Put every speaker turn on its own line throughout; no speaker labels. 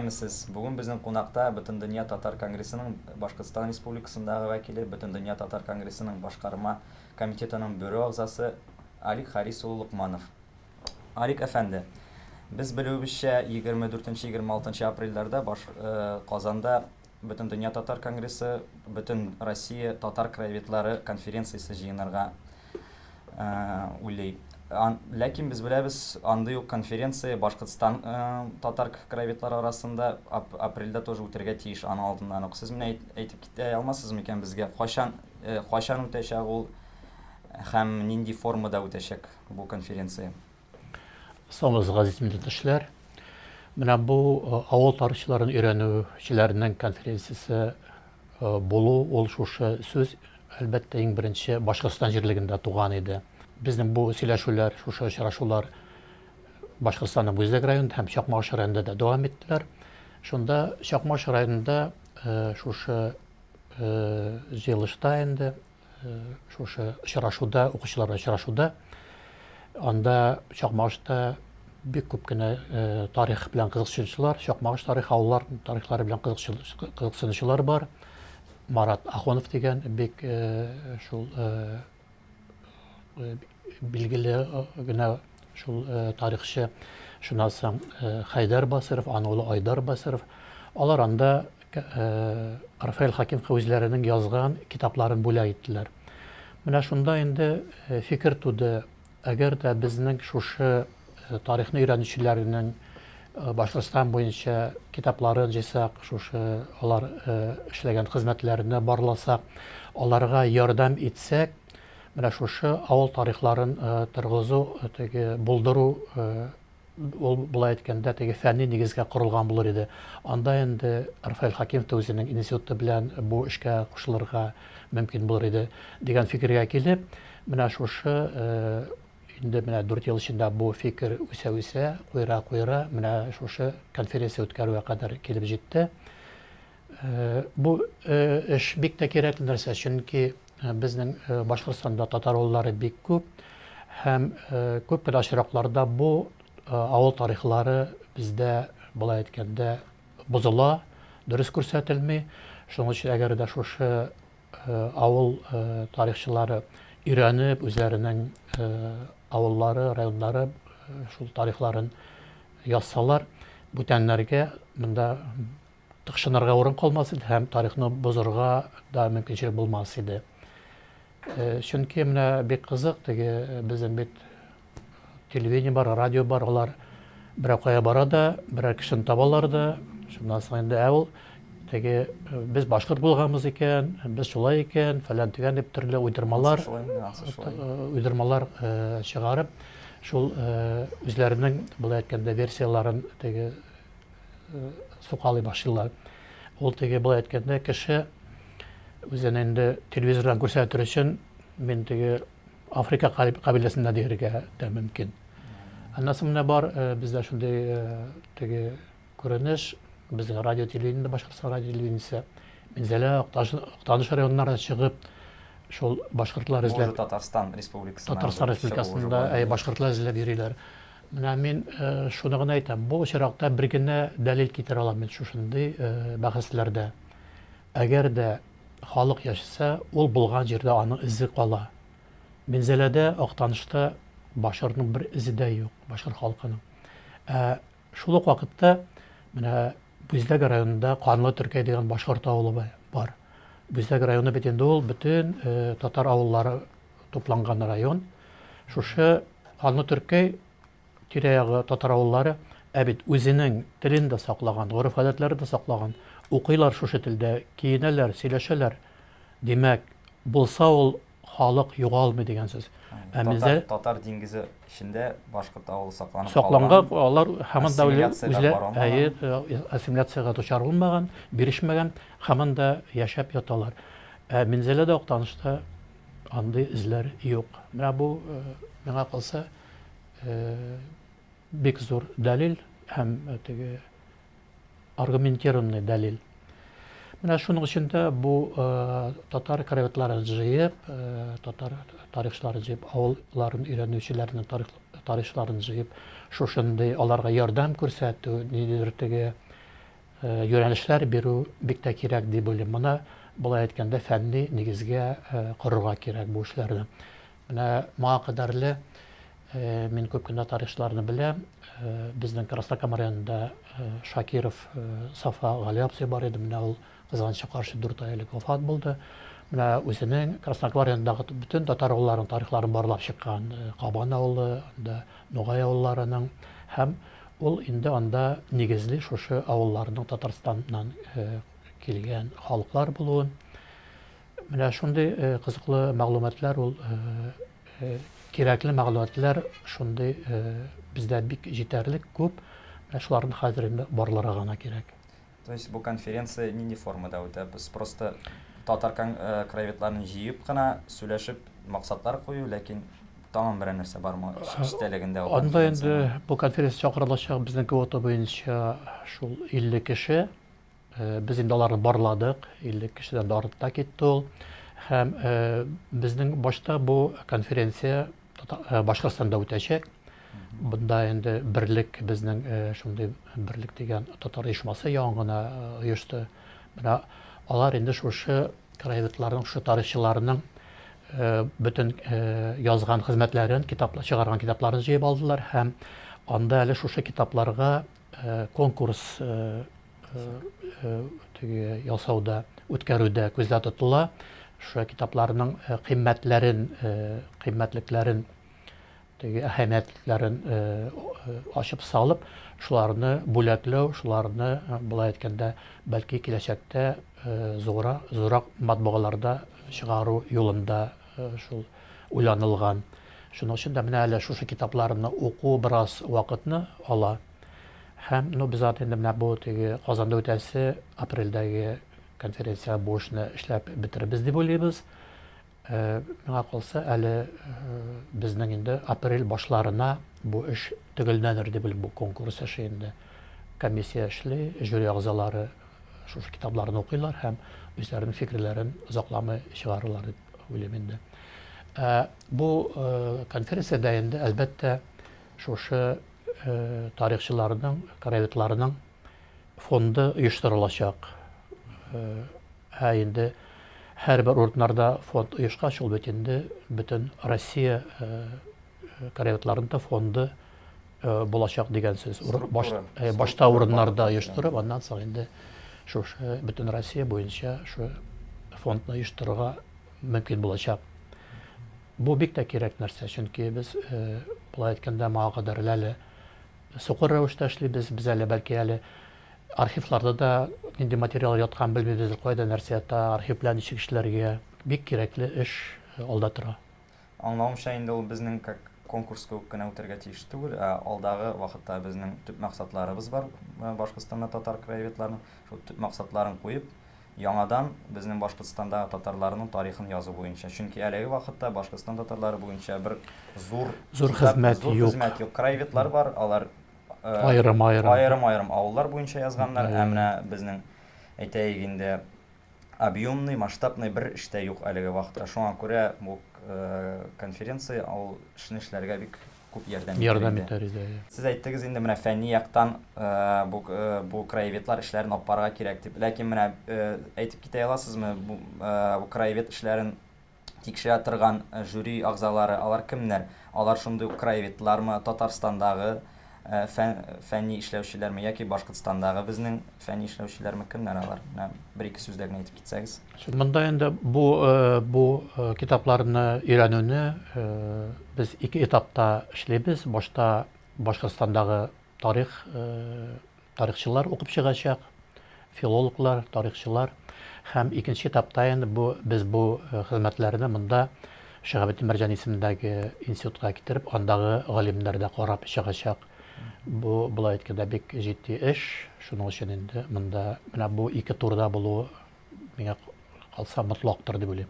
Исәнмесез. Бүген безнең кунакта Бөтендөнья татар конгрессының Башкортстан Республикасындагы вәкиле, Бөтендөнья татар конгрессының башкарма комитетының бюро әгъзасы Алик Харис улы Локманов. Арик әфәнде, без белүебезчә, егерме дүртенче, егерме алтынчы апрельләрдә баш Казанда Бөтендөнья татар конгрессы, Бөтен Россия татар краеведлары конференциясе җыенырга уйлый. Ләкин без беләбез, андый ук конференция Башкортстан татар краеведлары арасында апрельдә тоже үтәргә тиеш, аның алдыннан ук. Сез менә әйтеп китә алмассыз микән безгә, кайчан, кайчан үтәчәк ул һәм нинди формада үтәчәк? бу конференция. Саубыз газиз милләттәшләр. Менә бу э, авыл тарихчыларын өйрәнүчеләрнең конференциясе э, булу ул шушы сүз әлбәттә иң беренче Башкортстан җирлегендә туган иде. Безнең бу сөйләшүләр, шушы очрашулар Башкортстанның Бүздәк районында һәм Чакмагыш районында да дәвам иттеләр. Шунда Чакмагыш районында э, шушы җыелышта инде Шушы очрашуда, укучылар очрашуда анда Чакмагышта бик күп кенә тарих белән кызыксынучылар, Чакмагыш тарих авыллар тарихлары белән кызыксынучылар бар. Марат Ахонов дигән бик шул билгеле генә шул тарихчы, шуннан соң Хәйдәр Басыров, аның улы Айдар Басыров, алар анда Рафаэль Хакимка үзләренең язган китапларын бүләк иттеләр. Менә шунда инде фикер туды, әгәр дә безнең шушы тарихны өйрәнүчеләрнең Башкортстан буенча китапларын җыйсак, шушы алар эшләгән хезмәтләрне барласак, аларга ярдәм итсәк, менә шушы авыл тарихларын торгызу, теге булдыру Ул, болай әйткәндә, теге фәнни нигезгә корылган булыр иде. Анда инде Рафаэль Хәкимов та үзенең институты белән бу эшкә кушылырга мөмкин булыр иде, дигән фикергә килеп, менә шушы инде менә дүрт ел эчендә бу фикер үсә-үсә, куера-куера, менә шушы конференция үткәрүгә кадәр килеп җитте. Бу эш бик тә кирәкле нәрсә, чөнки безнең Башкортстанда татар авыллары бик күп һәм күп кенә очракларда бу авыл тарихлары бездә болай әйткәндә бозыла, дөрес күрсәтелми. Шуның өчен әгәр дә шушы авыл тарихчылары өйрәнеп, үзләренең авыллары, районнары шул тарихларын язсалар, бүтәннәргә монда тыкшынырга урын калмас иде һәм тарихны бозырга да мөмкинчелек булмас иде. Чөнки менә бик кызык, теге безнең бит телевидение бар, радио бар, алар берәр кая бара да, берәр кешене табалар да, шуннан соң инде ә ул теге без башкорт булганбыз икән, без шулай икән, фәлән төгән дип төрле уйдырмалар, уйдырмалар чыгарып, шул үзләренең, болай әйткәндә, версияләрен теге сукалый башлыйлар. Ул теге былай әйткәндә кеше үзен инде телевизордан күрсәтер өчен мин теге Африка кабиләсендә диергә дә мөмкин. Аннасы менә бар, э, бездә шундый э, теге күренеш, безнең радио телевидение, Башкортстан радио телевидениесе, Минзәлә, Актаныш районнарына чыгып, шул башкортлар эзләп... Татарстан республикасында... Татарстан республикасында, әй, башкортлар эзләп йөриләр. Менә мин шуны гына әйтәм, бу очракта бер генә дәлил китерә алам мин шушындый бәхәсләрдә. Әгәр дә халык яшәсә, ул булган җирдә аның эзе кала. Минзәләдә, Актанышта башкортның бер эзе дә юк, башкорт халкының. Ә шул ук вакытта менә Бүздәк районында Канлы Төркәй дигән башкорт авылы бар. Бүздәк районы бит инде ул бөтен татар авыллары тупланган район. Шушы Канлы Төркәй тирә-ягы татар авыллары, ә бит үзенең телен дә саклаган, гореф-гадәтләре дә саклаган. Укыйлар шушы телдә, киенәләр, сөйләшәләр. Димәк, булса ул халык югалмый дигән сүз. Ә бездә Татар диңгезе эчендә башкорт авылы сакланып калган. Сакланган, алар һаман да үзләре ассимиляциягә дучар булмаган, бирешмәгән, һаман да яшәп яталар. Ә Минзәләдә Актанышта Андый эзләр юк. Менә бу, миңа калса, бик зур дәлил һәм теге аргументированный дәлил. Менә шуның өчен дә бу татар краеведларын җыеп, татар тарихчыларын җыеп, авылларын өйрәнүчеләрнең тарихчыларын җыеп, шушындый аларга ярдәм күрсәтү, ниндидер теге Юнәлешләр бирү бик тә кирәк дип уйлыйм. Моны, болай әйткәндә, фәнни нигезгә корырга кирәк бу эшләрне. Менә моңа кадәрле мин күп кенә тарихчыларны беләм. Безнең Краснокама районында Шакиров Сафа Гали абзый бар иде. Менә ул кызганычка каршы дүрт ай элек вафат булды. Менә үзенең Краснокама районындагы бөтен татар авылларының тарихларын барлап чыккан. Кабан авылы, анда Нугай авылларының һәм Ул инде анда нигезли шушы авылларның Татарстаннан килгән халыклар булуын, менә шундый кызыклы мәгълүматлар ул кирәкле мәгълүматлар шундый бездә бик җитәрлек күп, менә шуларны хәзер инде барларга гына кирәк. То есть бу конференция нинди формада үтә? Без просто татар э, краеведларын җыеп кына сөйләшеп максатлар кую, ләкин тагын берәр нәрсә бармы эчтәлегендә? Анда инде бу конференция чакырылачак безнең квота буенча шул 50 кеше. Э, без инде аларны барладык, 50 кешедән дә артта китте ул. Һәм э, безнең башта бу конференция Башкортстанда үтәчәк. Бында инде берлек безнең шундый берлек дигән татар оешмасы яңа гына оешты. Менә алар инде шушы краеведларның, шушы тарихчыларның бөтен язган хезмәтләрен, китаплар чыгарган китапларын җыеп алдылар һәм анда әле шушы китапларга конкурс ясауда, үткәрүдә күздә тотыла. Шушы китапларның кыйммәтләрен, кыйммәтлекләрен, теге әһәмиятләрен ачып салып, шуларны бүләкләү, шуларны, болай әйткәндә, бәлки киләчәктә зуррак матбагаларда чыгару юлында. шул уйланылган. Шуның өчен дә менә әле шушы китапларны уку бераз вакытны ала. Һәм, ну, без аны инде менә бу теге Казанда үтәсе апрельдәге конференциягә бу эшне эшләп бетерербез дип уйлыйбыз. Э, миңа калса, әле э, безнең инде апрель башларына бу эш төгәлләнер дип уйлыйм, бу конкурс эше инде. Комиссия эшли, жюри әгъзалары шушы китапларны укыйлар һәм үзләренең фикерләрен озакламый чыгарырлар дип уйлыйм инде. Ә, бу э, конференциядә инде, әлбәттә, шушы э, тарихчыларның, краеведларның фонды оештырылачак. Э, ә инде һәрбер урыннарда фонд оешкач, ул бит инде бөтен Россия э, краеведларында фонды булачак дигән сүз. Башта урыннарда оештырып, аннан соң инде шушы бөтен Россия буенча шу фондны оештырырга мөмкин булачак. Бу бик тә кирәк нәрсә, чөнки без болай әйткәндә моңа кадәр әле сукыр рәвештә эшлибез, без әле бәлки әле архивларда да нинди материал яткан белмибез, кайда нәрсә ята, архив белән ничек эшләргә. Бик кирәкле эш алда тора. Аңлавымча, инде ул безнең как конкурс кебек кенә үтәргә тиеш түгел, ә алдагы вакытта безнең төп максатларыбыз бар, Башкортстанда татар краеведларының шул төп максатларын куеп, яңадан безнең Башкортстандагы татарларның тарихын язу буенча. Чөнки әлеге вакытта Башкортстан татарлары буенча бер зур Зур хезмәт зур юк. хезмәт юк. Краеведлар бар, алар э, Аерым-аерым. аерым-аерым авыллар буенча язганнар, ә менә безнең әйтәйек инде объёмный, масштабный бер эш тә юк әлеге вакытта. Шуңа күрә бу конференция ул эшне эшләргә бик күп ярдәм итәр иде. Ярдәм итәр иде, әйе. Сез әйттегез инде, менә фәнни яктан бу бу краеведлар эшләрен алып барырга кирәк дип. Ләкин менә әйтеп китә аласызмы, бу краевед эшләрен тикшерә торган жюри әгъзалары, алар кемнәр? Алар шундый ук краеведлармы, Татарстандагы фәнни эшләүчеләрме яки Башкортстандагы безнең фәнни эшләүчеләрме, кемнәр алар? Менә бер-ике сүздә генә әйтеп китсәгез. Монда инде бу бу китапларны өйрәнүне без ике этапта эшлибез. Башта Башкортстандагы тарих тарихчылар укып чыгачак, филологлар, тарихчылар һәм икенче этапта инде бу без бу хезмәтләрне монда Шиһабетдин Мәрҗани исемендәге институтка китереп, андагы галимнәр дә карап чыгачак. Бу болай әйткәндә бик җитди эш. Шуның өчен инде монда менә бу ике турда булу миңа калса мотлактыр дип уйлыйм.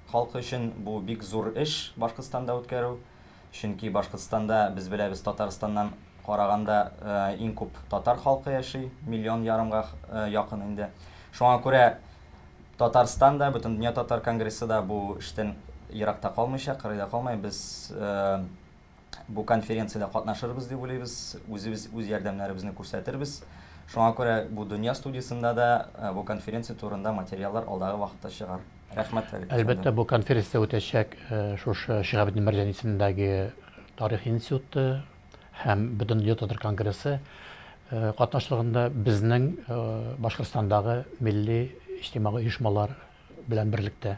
Халкы өчен бу бик зур эш Башкортстанда үткәрү. Чөнки Башкортстанда, без беләбез, Татарстаннан караганда иң күп татар халкы яши, миллион ярымга якын инде. Шуңа күрә Татарстан да, Бөтендөнья татар конгрессы да бу эштән еракта калмыйча, кырыйда калмай, без бу конференциядә катнашырбыз дип уйлыйбыз, үзебез үз ярдәмнәребезне күрсәтербез. Шуңа күрә бу Дөнья студиясендә дә бу конференция турында материаллар алдагы вакытта чыгар. Рәхмәт, Фәрит. Әлбәттә, бу конференция үтәчәк шушы Шиһабетдин Мәрҗани исемендәге Тарих институты һәм Бөтендөнья татар конгрессы катнашлыгында безнең Башкортстандагы милли иҗтимагый оешмалар белән берлектә.